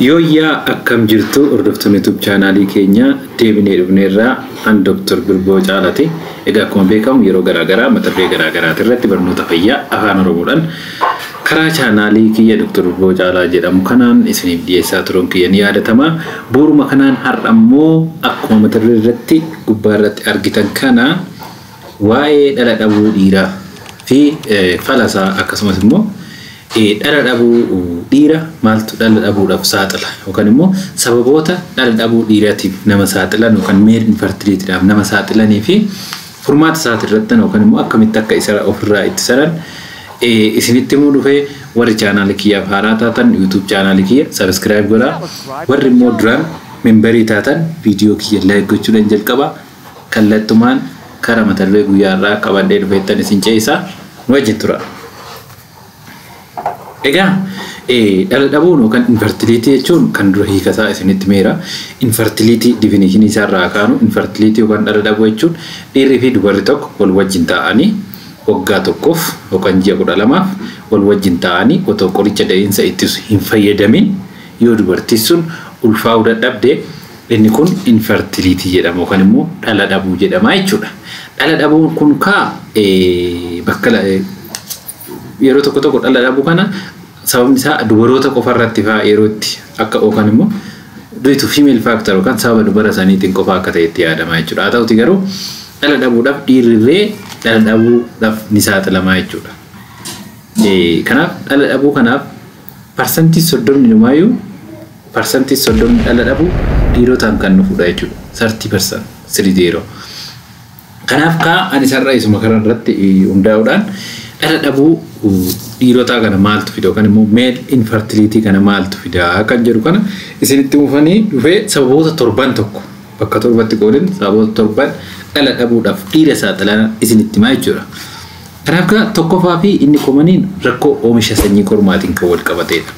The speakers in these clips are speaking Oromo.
Yooyyaa akkam jirtu hordoftoonni YouTube chaanaalii keenya deebinee dhufneerraa an Dr. Birboo Caalati. Egaa akkuma beekamu yeroo garaagaraa mata duree garaagaraati irratti barnoota fayyaa afaan Oromoodhaan Karaa chaanaalii kiyya Dr. Urgoo Caalaa jedhamu kanaan isiniif dhiyeessaa turuun kiyya ni yaadatama. Bu'uruma kanaan har'a immoo akkuma mata duree irratti gubbaa irratti argitan kana waa'ee dhala dhabuu dhiiraa fi fala isaa akkasumas immoo dhala dhabuu dhiira maaltu dhala dhabuudhaaf saaxila yookaan immoo sababoota dhala dhabuu dhiiratiif nama saaxilan yookaan male infertilityidhaaf nama saaxilanii fi Furmaata isaati irrattan yookan immoo akkamitti akka isa of irraa ittisanan isinitti himuu dhufe warri chaanaali kiyyaaf haaraa taatan YouTube chaanaali kiyya subscribe godha warri immoo duraan memberii taatan viidiyoo kiyya like gochuudhan jalqaba kallattumaan kara mata duree guyyaa irraa qabadhee dhufeettan isin ceesisa nu wajjin tura. Egaa dhala dhabuun yookaan infertiliitii jechuun kan dura hiikasaa isinitti meera. Infertiliitii difinishinii isaa irraa kaanu infertiliitii yookaan dhala dhabuu jechuun dhiirri fi dubarri tokko wal wajjin taa'anii waggaa tokkoof yookaan ji'a kudha lamaaf wal wajjin taa'anii otoo qoricha da'iinsa ittisu hin fayyadamin yoo dubartiin sun ulfaa'uu dadhabde Inni kun infertility jedhama yookaan immoo dhala dhabuu jedhama jechuudha. Dhala dhabuun kun kaa bakka yeroo tokko tokko dhala dhabuu kana sababni isaa dubaroota qofa irratti faa yeroo itti akka yookaan immoo due to female factor yookaan sababa dubara isaaniitiin qofa akka ta'e itti yaadama jechuudha. Haa ta'uti garuu dhala dhabuudhaaf dhiirrirree dhala dhabuudhaaf ni saaxilamaa jechuudha. Kanaaf dhala dhabuu kanaaf Parsantii soddomni numaayuu parsantii soddomni dhala dhabu dhiirotaan kan dhufudha jechuudha. 30% 30. Kanaaf kaa ani sarara isuma kana irratti hundaa'uudhaan dhala dhabuu dhiirotaa kana maaltu fida yookaan immoo meel infertility kana maaltu fida kan jedhu kana isinitti mufanii dhufee sababoota torban tokko bakka torbatti qoodin sababoota torban dhala dhabuudhaaf dhiira saaxilan isinitti himaa jechuudha. Ragaa tokkofaa fi inni komaniin rakkoo oomisha sanyii kormaatiin kan walqabateedha.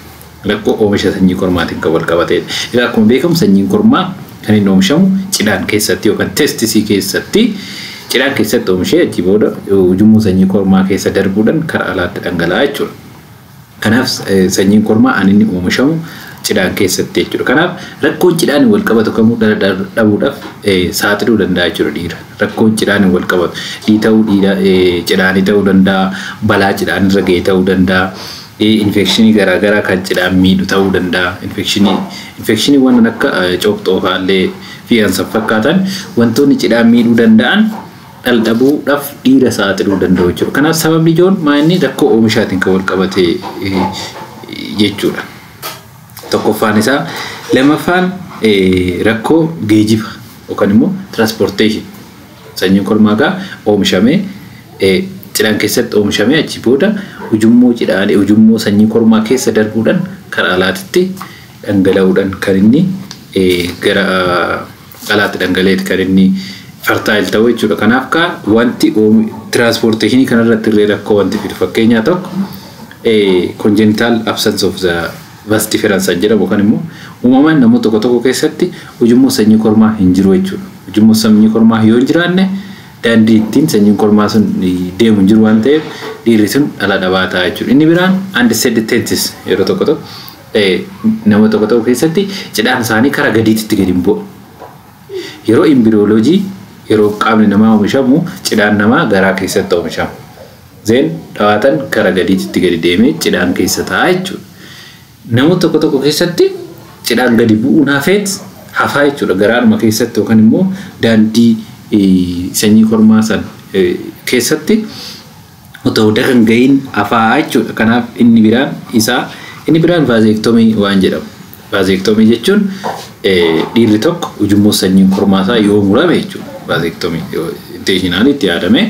Rakkoo oomisha sanyii kormaatiin kan walqabateedha. Egaa akkuma beekamu sanyiin kormaa kan inni oomishamu cidhaan keessatti yookaan testisii keessatti cidhaan keessatti oomishee achii booda ujummoo sanyii kormaa keessa darbuudhaan kara alaatti dhangala'a jechuudha. Kanaaf sanyiin kormaa an inni oomishamu cidhaan keessatti jechuudha. Kanaaf rakkoon cidhaan wal qabatu kamuu dhala dhabuudhaaf saaxiluu danda'a jechuudha dhiira. Rakkoon cidhaan wal qabatu dhiita'uu dhiira cidhaanii ta'uu danda'a, balaa cidhaan irra ga'e ta'uu danda'a, infekshinii garaa garaa kan cidhaan miidhu ta'uu danda'a. Infekshinii infekshinii waan akka coopxoofaallee fi kan san fakkaatan wantoonni cidhaan miidhuu danda'an dhaldhabuu dhaf dhiira saaxiluu danda'u jechuudha. Kanaaf sababni ijoon maa inni rakkoo oomishaatiin kan wal qabate jechuudha. Tokkoffaan isaa lamaffaan rakkoo geejiba yookaan immoo transportation sanyiin kormaa gaa oomishamee cidhaan keessatti oomishamee achi booda ujummoo cidhaalee ujummoo sanyii kormaa keessa darbuudhaan karaa alaatitti dhangala'uudhaan kan inni gara dhalaatti dhangala'eeti kan inni fertile ta'u jechuudha. Kanaaf kaa wanti transportation kana irratti illee rakkoo wanti fidu fakkeenyaa tokko congenital absence of the vas deferens kan jedhamu kan immoo uumamaan namoota tokko tokko keessatti ujummoo sanyii kormaa hin jiru jechuudha. Ujummoo sanyii kormaa yoo hin jiraanne daandii ittiin sanyiin kormaa sun deemu hin jiru waan ta'eef dhiirri sun dhala dhabaa ta'a jechuudha. Inni biraan undecided tenses yeroo tokko tokko Nama tokko ta'uu keessatti cidhaan isaanii kara gadiititti gadi hin bu'u. Yeroo imbiriyooloojii yeroo qaamni namaa oomishamu cidhaan namaa garaa keessatti oomishama. Zeen dhawaatan kara gadiititti gadi deemee cidhaan keessa ta'a jechuudha. Namoota tokko tokko keessatti cidhaan gadi bu'uun hafeet hafaa jechuudha. Garaadhuma keessatti yookaan immoo daandii sanyii kormaa san keessatti otoo bira hin gahiin hafaa jechuudha. Kanaaf inni biraan isaa inni biraan vaazeektomii waan jedhamu. Vaazeektomii jechuun dhiirri tokko ujummoo sanyiin kormaa isaa yoo murame jechuudha. Vaazeektomii intentionaalii itti yaadamee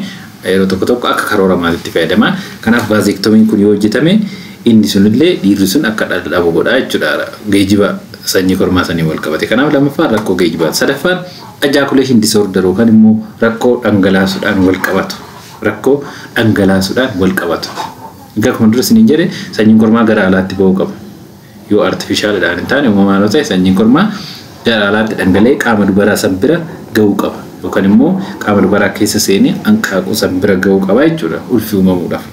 yeroo tokko tokko akka karoora maalitti fayyadama. Kanaaf vaazeektomiin kun yoo hojjetame inni sunillee dhiirri sun akka dhala dhabu godha jechuudha. Geejiba sanyii kormaa saniin wal qabate. Kanaaf lammaffaan rakkoo geejibaa. Sadaffaan ajaakuleeshin disoorder yookaan immoo rakkoo dhangalaasuudhaan wal qabatu. rakkoo dhangalaasuudhaan walqabatu. Egaa akkuma dura isiniin jedhe sanyiin kormaa gara alaatti ba'uu qaba. Yoo artifishaalidhaan hin taane uumamaan yoo ta'e sanyiin kormaa gara alaatti dhangala'ee qaama dubaraa san bira ga'uu qaba. Yookaan immoo qaama dubaraa keessa seenee hanqaaquu san bira ga'uu qaba jechuudha ulfi uumamuudhaaf.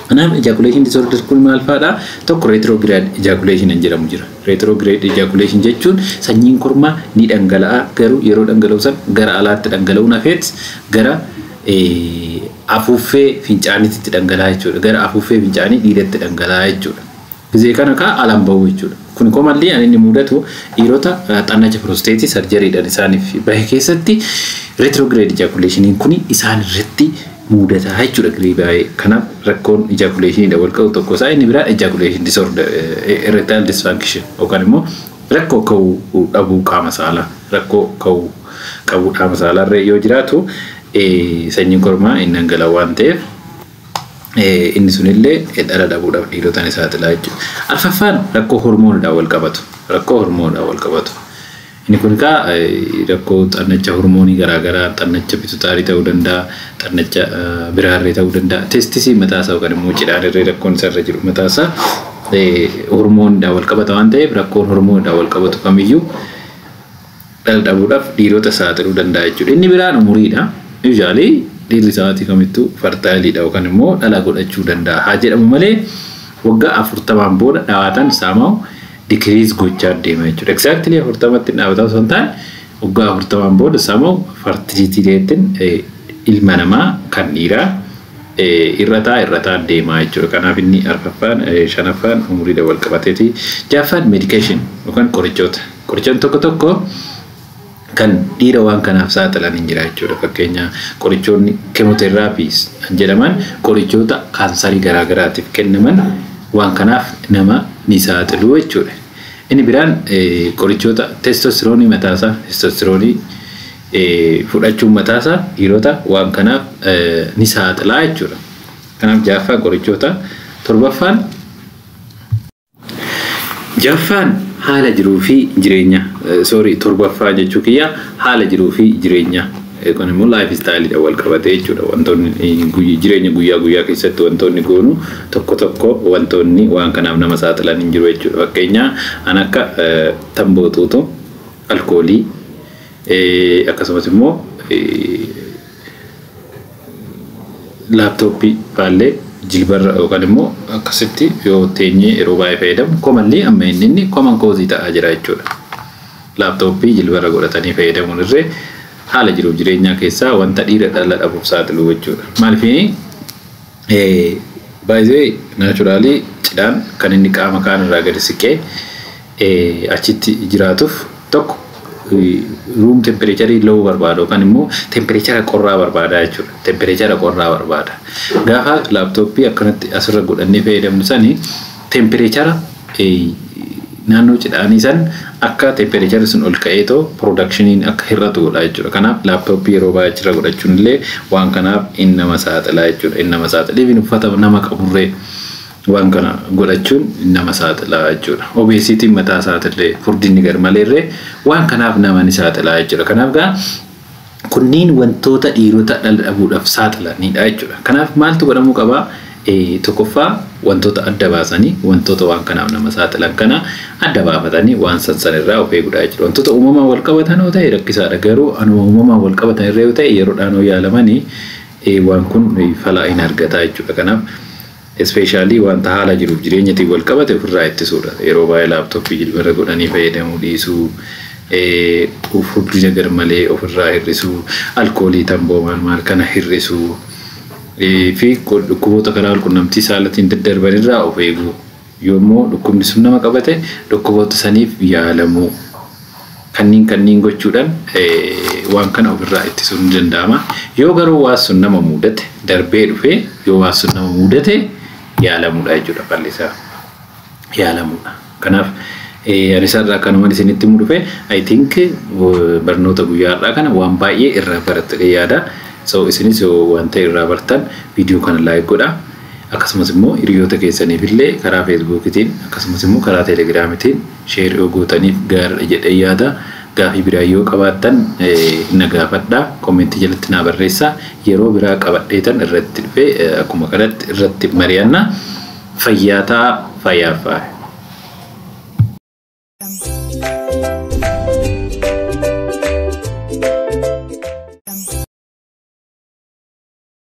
Kanaaf ejaculation disorder kun maal faadha? Tokko retrograde ejaculation hin jedhamu jira. Retrograde ejaculation jechuun sanyiin kormaa ni dhangala'a garuu yeroo dhangala'u san gara alaatti dhangala'uun hafeet gara afuuffee fincaaniitti dhangala'a jechuudha. Gara afuuffee fincaanii dhiidatti dhangala'a jechuudha. Gizee kana kaa alan bahu jechuudha. Kuni commonly an inni muudatu dhiirota xannacha prosteetii sarjariidhan isaanif bahe keessatti retrograde ejaculationiin kuni isaan irratti muudata jechuudha girii baayee. Kanaaf rakkoon ejaculationiidhan wal qabu tokko isaa inni biraa ejaculation disorder, erectile dysfunction yookaan immoo rakkoo ka'uu dhabuu qaama saalaa, rakkoo ka'uu qabuu dhaama saalaa irra yoo jiraatu sanyiin kormaa hin dhangala waan ta'eef. Inni sunillee dhala dhabuudhaaf dhiirota ni saaxila jechuudha. Arfaffaan rakkoo hormoonidhaan wal qabatu. Rakkoo hormoonidhaan wal qabatu. Inni kun egaa rakkoo xannacha hormoonii garaagaraa xannacha pitutaarii ta'uu danda'a, xannacha biraarree ta'uu danda'a. Testisii mataasaa yookaan immoo cidhaarree rakkoon isarra jiru mataasaa hormoonidhaan wal qabata waan ta'eef rakkoon hormoonidhaan wal qabatu kamiyyuu dhala dhabuudhaaf dhiirota saaxiluu danda'a jechuudha. Inni biraan umuriidha. Usually dhiirri sa'aatii kamittuu fartaayiliidha yookaan immoo dhala godhachuu danda'a haa jedhamu malee waggaa afurtamaan booda dhawaataan saamaawu dikiriis gochaa deema jechuudha. Exactly afurtamatti dhaabataa osoo hin taane waggaa afurtamaan booda saamaawu fartiliitii reettiin ilma namaa kan dhiiraa irrataa irrataa deemaa jechuudha. Kanaaf inni arfaffaan shanaffaan umuriidha wal qabateeti. Jaaffaan meedikeeshin yookaan qorichoota. Qorichoonni tokko tokko kan dhiira waan kanaaf saaxilan hin jira jechuudha. Fakkeenya qorichoonni kemoteraapiis jedhaman qorichoota kaansarii garaagaraatiif kennaman waan kanaaf nama ni saaxilu jechuudha. Inni biraan qorichoota testostiroonii mataasaa testostiroonii fudhachuun mataasaa dhiirota waan kanaaf ni saaxilaa jechuudha. Kanaaf jaaffaa qorichoota torbaffaan Jaffaan haala jiruu fi jireenya sorry torbaffaa jechuu kiyya haala jiruu fi jireenya kun immoo life style dha wal qabatee jechuudha wantoonni jireenya guyyaa guyyaa keessatti wantoonni goonu tokko tokko wantoonni waan kanaaf nama saaxilan hin jiru jechuudha fakkeenyaa an akka tamboo xuuxu alkoolii akkasumas immoo laaptooppii baallee jilbarra yookaan immoo akkasitti yoo teenyee yeroo baay'ee fayyadamu komanlii amma inni inni koman koozii ta'aa jira jechuudha. Laaptooppii jilbarra godhatanii fayyadamuun irree haala jiruuf jireenyaa keessaa wanta dhiira dhala dhabuuf saaxilu jechuudha. Maaliif baay'ee naachuraalii cidhaan kan inni qaama kaan irraa gadi siqee achitti jiraatuuf tokko room temperature low barbaada yookaan immoo temperature qorraa barbaada jechuudha. Temperature qorraa barbaada. Gaafa laaptooppii akkanatti asirra godhannee fayyadamnu sani temperature naannoo cidhaanii san akka temperature sun ol ka'ee too productioniin akka hir'atu godha jechuudha. Kanaaf laaptooppii yeroo baay'ee achirra godhachuun illee waan kanaaf in nama saaxilaa jechuudha. In nama saaxila. Even uffata nama qaburree Waan kana godhachuun nama saaxila jechuudha. Obesity mataa isaatillee furdinni garmaleerree waan kanaaf nama ni saaxila jechuudha. Kanaaf gaa kunniin wantoota dhiirota dhala dhabuudhaaf saaxilanidha jechuudha. Kanaaf maaltu godhamuu qaba? Eh, Tokkoffaa wantoota adda baasanii wantoota waan kanaaf nama saaxilan kana adda baafatanii waan san san irraa of eegudha jechuudha. Wantoota uumamaan wal qabatan yoo ta'e rakkisaadha garuu anuma uumamaan wal qabatan irra yoo ta'e yeroodhaan yoo yaalamanii eh, waan kun eh, falaa hin argata jechuudha. Kanaaf Especially wanta haala jiruuf jireenyatiin wal qabate ofirraa ittisuudha. Yeroo baay'ee laptop jilbarra godhanii fayyadamuu dhiisuu, furdina garmalee ofirraa hir'isuu, alkoolii, tamboo maal maal kana hir'isuu, fi dhukkuboota karaa walqunnamtii saalatiin daddarban irraa of eeguu. Yoommoo dhukkubni sun nama qabate dhukkuboota saniif yaalamuu. Kanniin kanniin gochuudhan waan kana of irraa ittisuun ni danda'ama. Yoo garuu waan sun nama muudate darbee dhufee yoo waan sun nama muudate yaalamuudha jechuudha falli isaa yaalamuudha. Kanaaf ani isaarraa kanuman isinitti himu dhufe I think barnoota guyyaa har'aa kana waan baay'ee irraa barattanii yaada. So isinis yoo waan ta'e irraa bartan viidiyoo kana like godha. Akkasumas immoo hiriyoota keessaniif illee karaa feesbuukiitiin akkasumas immoo karaa teelegiraamiitiin Share yoo gootaniif gaariidha jedheen yaada. Gaafii biraa yoo qabaattan na gaafadha. Comment jalatti naa barreessa. Yeroo biraa qabadheetan irratti dhufe akkuma kanatti irratti mari'anna. Fayyaa ta'a fayyaa faaya.